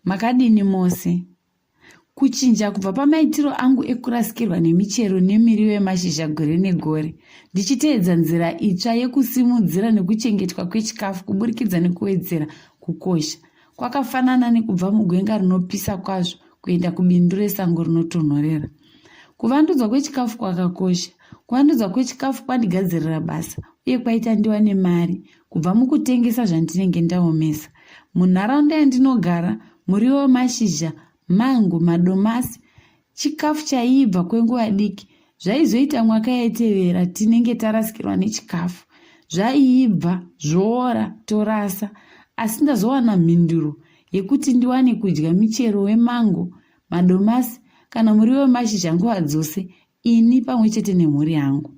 Makadini mose? Kuchinja kubva pamaitiro angu ekurasikirwa nemichero nemiriwo yemashizha gore negore, ndichiteedza nzira itsva yekusimudzira nekuchengetwa kwechikafu kuburikidza nekuwedzera kukosha, kwakafanana nekubva mugwenga rinopisa kwazvo kuenda kubindu resango rinotonhorera. Kuvandudzwa kwechikafu kwakakosha. Kuvandudzwa kwechikafu kwandigadzirira basa uye kwaita ndiwane mari kubva mukutengesa zvandinenge ndaomesa munharaunda yandinogara muriwo wemashizha mango madomasi chikafu chaiibva kwenguva diki zvaizoita mwaka yaitevera tinenge tarasikirwa nechikafu zvaiibva zvoora torasa asi ndazowana mhinduro yekuti ndiwane kudya michero wemango madomasi kana muriwo wemashizha nguva dzose ini pamwe chete nemhuri yangu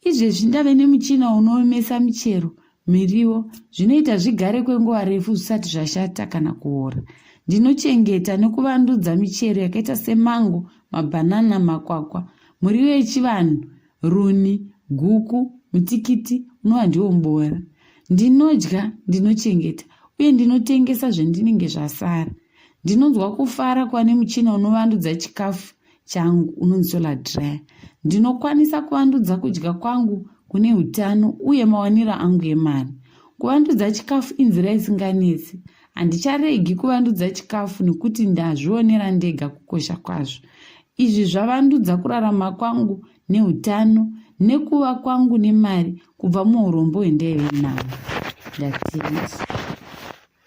izvezvi ndave nemuchina unoomesa michero miriwo zvinoita zvigare kwenguva refu zvisati zvashata kana kuora ndinochengeta nekuvandudza michero yakaita semango mabhanana makwakwa muriwo yechivanhu runi guku mutikiti unova ndiwo muboora ndinodya ndinochengeta uye ndinotengesa zvendinenge zvasara ndinonzwa kufara kuva nemuchina unovandudza chikafu changu unonzi solar dryer ndinokwanisa kuvandudza kudya kwangu kune utano uye mawaniro angu emari kuvandudza chikafu inzira isinganetsi handicharegi kuvandudza chikafu nekuti ndazvionera ndega kukosha kwazvo izvi zvavandudza kurarama kwangu neutano nekuva kwangu nemari kubva muurombo hwendaive navo ndatiisi